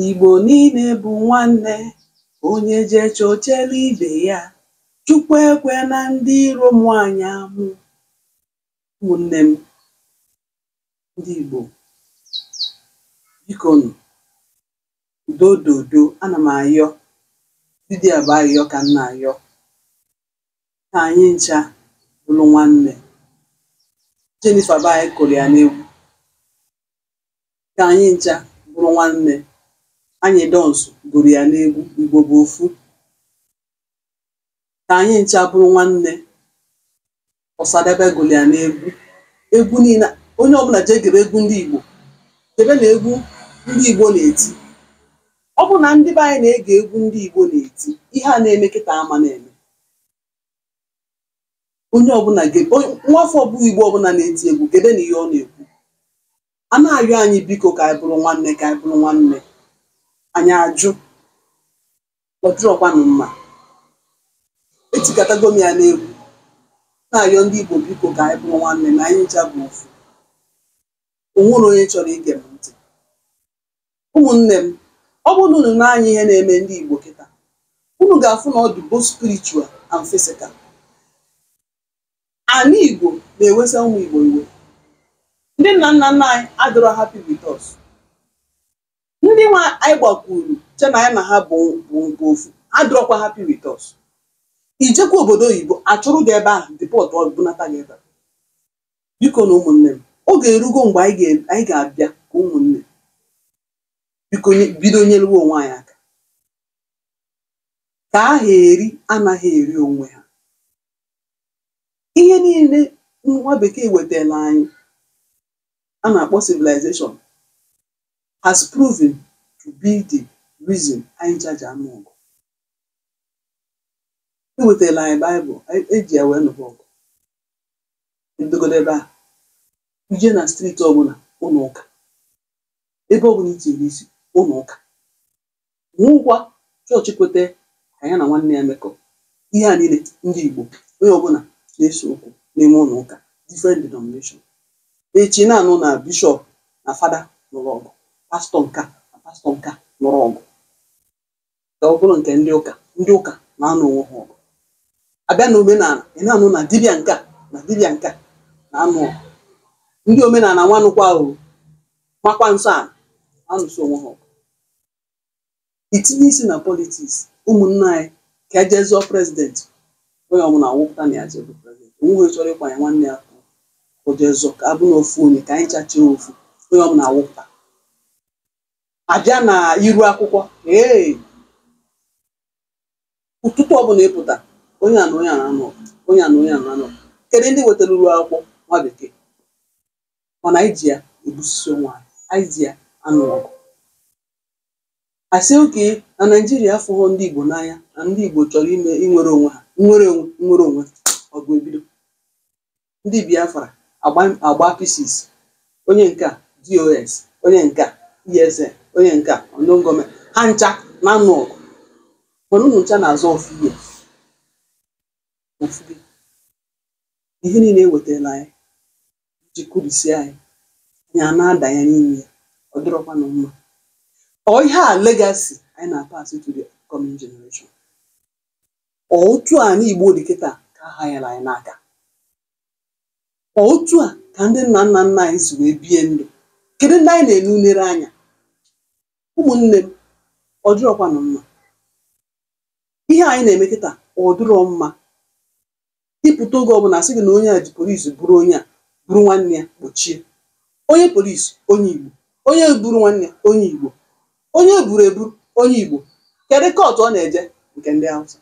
Igbo niile bụ nwanne, onye jee chọchela ibe ya. Chukwu ekwena ndị iro mụa anyị amụ. Ụmụnne m ndị Igbo, biko nụ, udo dodo, ana m ayọ, vidiyo bụ ayọ ka m na-ayọ. Ka anyị ncha bụrụ nwanne. Jennifer bụ anyị kụrụ ya n'egwu. ka anyị ncha bụrụ nwanne anyidons gụrụ ya n'egwu igbo bụ ofu ka anyị ncha bụrụ nwanne ọsadebe gụrụ ya n'egwu egwu niile onye ọbụla jee gere egwu ndị igbo gebenụ egwu ndị igbo na-eti ọ bụ na ndị be anyị na-ege egwu ndị igbo na-eti ihe a na-eme kịta ama na-eme onye ọbụla nwafọ ọbụla igbo ọbụla na-eti egwu gebenụ ihe ọ na-ekwu a na-ayọ anyị biko ka anyị bụrụ nwanne ka anyị bụrụ nwanne anyị ajụ ọ dịrọkwanụ mma etikatago m ya n'egwu na-ayọ ndị Igbo biko ka anyị bụrụ nwanne na anyị ncha bụ ofu o nwere onye chọrọ ige m ntị ụmụnne m ọ bụrụ na unu nee anya ihe na-eme ndị Igbo kịta unu ga-afụ na ọ dị both spiritual and physical Ana Igbo na-ewesa ụmụ Igbo iwe. Ndị nna nna nna anyị adịrọ happy with us. Ndị nwa anyị gbakwuru che na anyị na ha bụ bụ nke ofu adịrọkwa happy with us. I jekwa obodo oyibo achụrụ gị ebe ahụ deportuo bunata gị ebe a. Biko nụ ụmụnne m oge erugo mgbe anyị ga- anyị ga-abịa ka ụmụnne biko nye- bido nyelewe onwe anyị aka ka aha eri anaghị eri onwe ha ihe niile nwa bekee wetara anyị a na-akpọ civilization has proven to be the reason anyị ja-eji anụ ọgụ ewetara anyị baịbụl eji ya wee nụba ọgụ ebidogodo ebe a i jee na street ọbụla ụlọ ụka ebe ọbụla i tinyere isi ụlọ ụka Nwekwa chọọchị kweta ka ya na nwanne ya mekọ ihe a niile ndị Igbo onye ọbụla na-ese okwu n'ime ụlọ ụka different denomination echi na-anụ na bishọp na fada nụrụ ọgụ pastọ nka na pastọ nka nụrụ ọgụ ka ọ bụrụ nke ndị ụka ndị ụka na-anụ onwe ha ọgụ abịa na omenala ị na-anụ na dibịa nka na dibịa nka na-anụ ọgụ ndị omenala nwanụkwa o makwa nsọ ana na-anụso onwe ha ọgụ itinye isi na politiks ụmụnna anyị ka e jee zọọ prezidenti onye ọbụla awụpụta na ya jee bụ prezidenti onweghị chọrọ ịkwanye nwanne ya ka o jee zọọ ka abụ na ofu onye ka anyị chachie ofu onye ọbụla awụpụta abịa na iru akwụkwọ ee ụtụtụ ọbụla ịpụta onye a na onye a na-anụ onye a na onye a na-anụ kedu ndị wetara iru akwụkwọ nwa bekee mana anyị ji ya egbusisi onwe anyị anyị ji ya anụ ọgụ asị okay na naijiria afụghọ ndị igbo n'anya na ndị igbo chọrọ ime inwere onwe ha nwere onwe nwere onwe ọgụ ebido ndị biafra agba agba pieces onye nke a dos onye nke a esn onye nke a unknown gunmen ha ncha na-anụ ọgụ mana unu ncha na-azọ ofu ihe ofu gị ihe niile ewetala anyị ji kụrisi anyị anya a na-adanye n'ime ya ọ dịrọkwanụ mma ọ ihe a legasi anyị na-apas to the upcoming generation ọ otu a ani igbo dị kịta ka a hanyere anyị n'aka ọ otu a ka ndị nna nna nna anyị si wee bie ndụ kedu ndị anyị na-enenere anya ụmụnne m ọ dịrọkwanụ mma ihe anyị na-eme kịta ọ dịrọ mma ịpụta oge ọbụla asị gị na onye a ji polisi buru onye a buru nwanne ya kpọchie onye polisi onye igbo onye buru nwanne ya onye igbo onye eburu eburu onye igbo kedu kọtụ ọ na-eje nke ndị hausa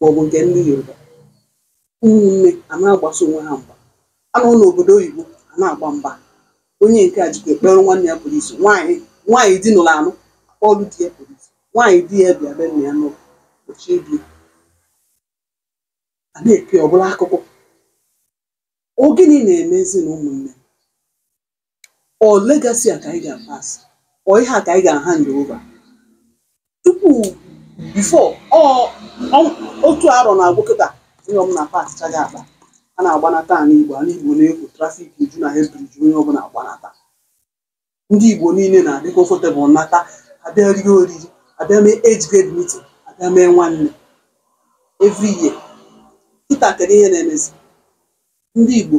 maọbụ nke ndị yoruba ụmụnne a na-agbaso onwe ha mgba a nọ n'obodo oyibo a na-agba mgba onye nke a jikwa ekpere nwanne ya polisi nwaanyị nwaanyị di nụrụ anụ kpọọrụ di ya polisi nwaanyị di ya bịa be nna ya nụọ kpọchie di ya na ebe ọbụla akụkọ ọ gịnị na-emezi na ụmụnne ọ legasi a ka anyị ga-apas ọ ihe a ka anyị ga-ahand over tupu bifo ọ ọ- otu arọ na-agwụ kịta onye ọbụla pakchago akpa a na-agbanata ala igbo ala igbo na-ekwo trafik eju na head bridge onye ọbụla agbanata ndị igbo niile na-adị kọfọtebụl nata abịa rie oriri abịa mee age grade meeting abịa mee nwanne every year kịta kedu ihe na-emezi ndị Igbo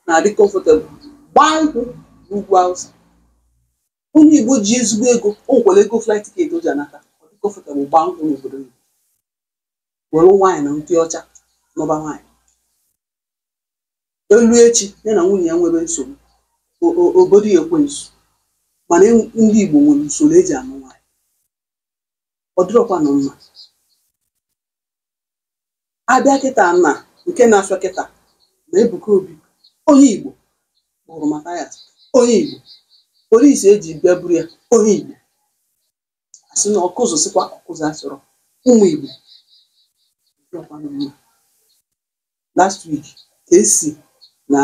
na-adị comfortable gbaa nkwụ n'ugwu Hausa onye Igbo ji ezigbo ego o nwekwara ego flight ticket o ji anata ọ dị comfortable gbaa nkwụ n'obodo oyibo were nwaanyị na ndị ọcha n'ọba nwaanyị eruo echi ya na nwunye ya nwere nsogbu o- o- o bodo ya ekwensu mana en- ndị Igbo nwere usoro eji anụ nwaanyị ọ dịrọkwanụ mma abịa kịta na nke na-asọ kịta na Ebuka Obi onye Igbo kpụrụ Mathias onye Igbo polisi eji bịa buru ya onye Igbo asị na Ọkụzụ sịkwa Ọkụzụ asọrọ ụmụ Igbo ọkwa unu ma last week ka esi na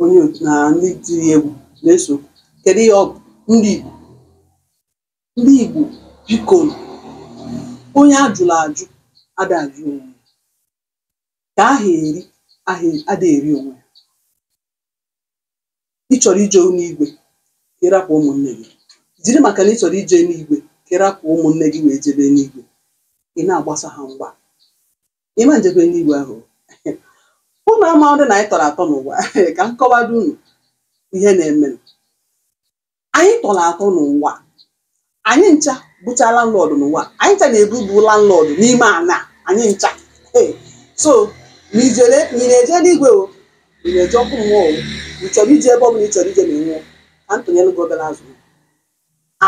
onye na ndị tiri egwu na-eso kedu ihe ọ bụ ndị Igbo ndị Igbo biko onye ajụla ajụ ada ajụ onwe ya ka aha eri aha ada eri onwe ya ị chọrọ ije n'igwe ka ịrapụ ụmụnne gị jiri maka na ị chọrọ ije n'igwe ka ịrapụ ụmụnne gị wee jebe n'igwe ị na-agbasa ha mgba ị ma ejebe n'igwe ahụ ụnụ amadị na anyị tọrọ atọ n'ụwa ka m kọwado unu ihe na-eme anyị tọrọ atọ n'ụwa anyị ncha bụcha landlord n'ụwa anyị ncha na-ebu bụ landlord n'ime ana anyị ncha ee so ma ijere ma ị na-eje n'igwe o ma ị na-eje ọkụ mmụọ o ị chọrọ ije ebe ọ bụla ị chọrọ ije ma ị nwụọ ka m tụnyere gị obere azụ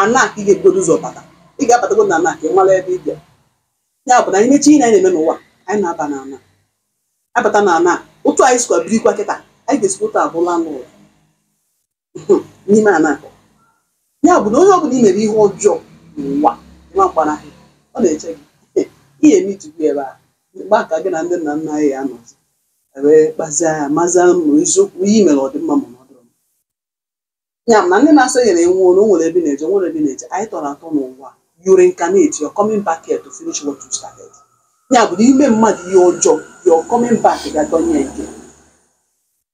ana ka ị ga-ebugodo ụzọ bata ị ga-abatago na ana ka ị mara ebe ị bịa ya bụ na anyị mechi ihe na anyị na-eme n'ụwa anyị na-aba na ana abata na ana otu anyị sikwa birikwa kịta anyị ga-esikwa otu a bụ landlord n'ime ana ahụ ya bụ na onye ọbụla i mere ihe ọjọọ n'ụwa nwa mgbanahụ ọ na-eche gị ihe emitụgbu ebe a mgbe a ka gị na ndị nna nna anyị ya anọzi wee kpazia ya mazia ma eziokwu ihe i mere ọ dị mma ma na ọ dịrọ mma ya bụ na ndị na-asọ ya na-enwe ọrụ o nwere ebe ị na-eje o nwere ebe ị na-eje anyị tọrọ atọ n'ụwa you reincarnate you're coming back here to finish what you started ya bụ na ime mmadụ ihe ọjọọ you're coming back ga dọnye nke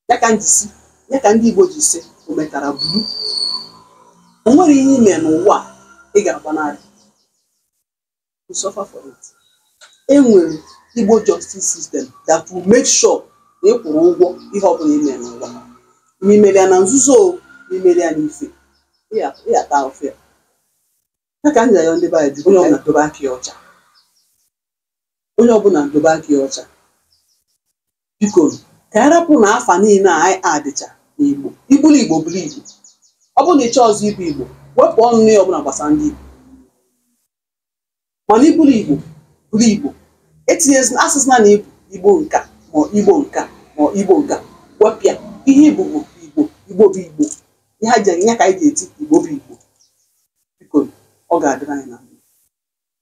ya ka eji si ya ka ndị Igbo ji si o metara buru o nwere ihe i me n'ụwa a ị ga-agbanarị you suffer for it e nwere Igbo justice system that will make sure na ị kwụrụ ụgwọ ihe ọ bụla i me n'ụwa ma i mere ya na nzuzo o ma i mere ya n'ife ị ga- ị ga-ata ahụfụ ya ya ka m ga-ayọ ndị be anyị biko, onye ọbụla dobe aka ya ọcha onye ọbụla dobe aka ya ọcha biko ka anyị rapụ na afa niile a anyị adịcha n'igbo ị bụrụ igbo bụrụ igbo ọ bụrụ na ị chọrọzị ịbụ igbo wepụ ọnụ n'ihe ọbụla gbasara ndị igbo mana ị bụrụ igbo bụrụ igbo etinyezi asụsụ na na ị bụ igbo nka ma igbo nka ma igbo nka wepịa ihe ị bụ bụ igbo igbo bụ igbo ihe aja ya ka anyị ga-eti igbo bụ igbo biko ọ ga-adịrị anyị na mma